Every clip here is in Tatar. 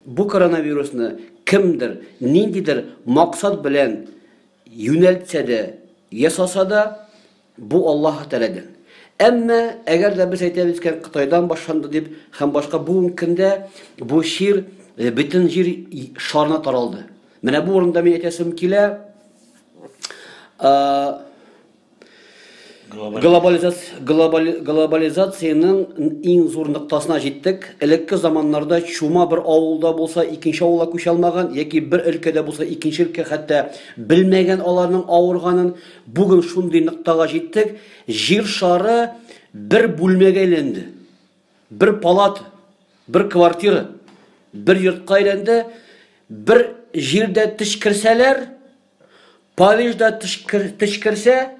Бу коронавирусны кемдер, ниндидер максат белән юнәлтсә дә, ясаса да, бу Аллаһ Тәгаләдән. Әмма әгәр дә без әйтәбез икән, Кытайдан башланды дип һәм башка бүгенге көндә бу чир э, бөтен җир шарына таралды. Менә бу урында мин әйтәсем килә, Глобализациянең иң зур ноктасына җиттек. Элекке заманнарда чума бер авылда булса, икенче авылга күчә алмаган, яки бер өлкәдә булса, икенче өлкә хәтта белмәгән аларның авырганын. Бүген шундый ноктага җиттек, җир шары бер бүлмәгә әйләнде. Бер палата, бер квартира, бер йортка әйләнде. Бер җирдә теш керсәләр, Парижда тешкерсә,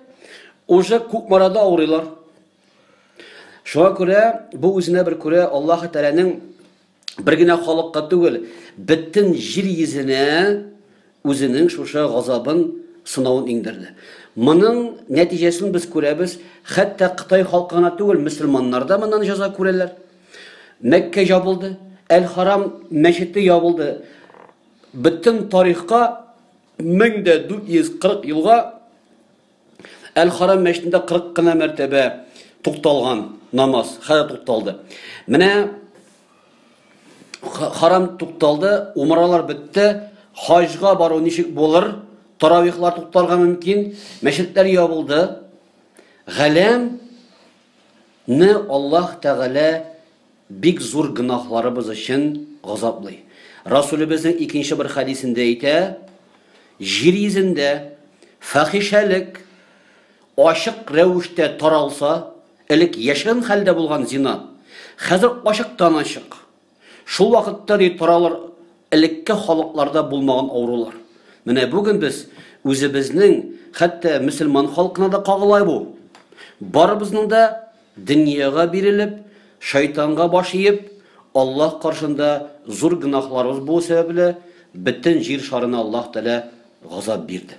уже Кукмарада авырыйлар. Шуңа күрә бу үзенә бер күрә Аллаһы Тәгаләнең бер генә халыкка түгел, бөтен җир йөзенә үзенең шушы газабын, сынавын иңдерде. Моның нәтиҗәсен без күрәбез, хәтта Кытай халкы гына түгел, мөселманнар да моннан җәза күрәләр. Мәккә ябылды, Әл-Харам мәчете ябылды. Бөтен тарихка 1440 елга Әл-Харам мәчетендә 40 кына мәртәбә тукталган намаз, хәзер тукталды. Менә харам тукталды, умралар бетте, хаҗга бару ничек булыр? Таравихлар туктарга мөмкин, мәчетләр ябылды. Галәм не Аллаһ Тәгалә бик зур гөнаһларыбыз өчен газаплый. Расүлебезнең икенче бер хәдисендә әйтә, Җир йөзендә фәхишәлек ачык рәвештә таралса, элек яшерен хәлдә булган зина, хәзер ачыктан-ачык. Шул вакытта, ди, таралыр элекке халыкларда булмаган авырулар. Менә бүген без үзебезнең, хәтта мөселман халкына да кагыла бу. Барыбызның да Дөньяга бирелеп, шайтанга баш иеп, Аллаһ каршында зур гөнаһларыбыз булу сәбәпле, бөтен җир шарына Аллаһ Тәгалә газап бирде.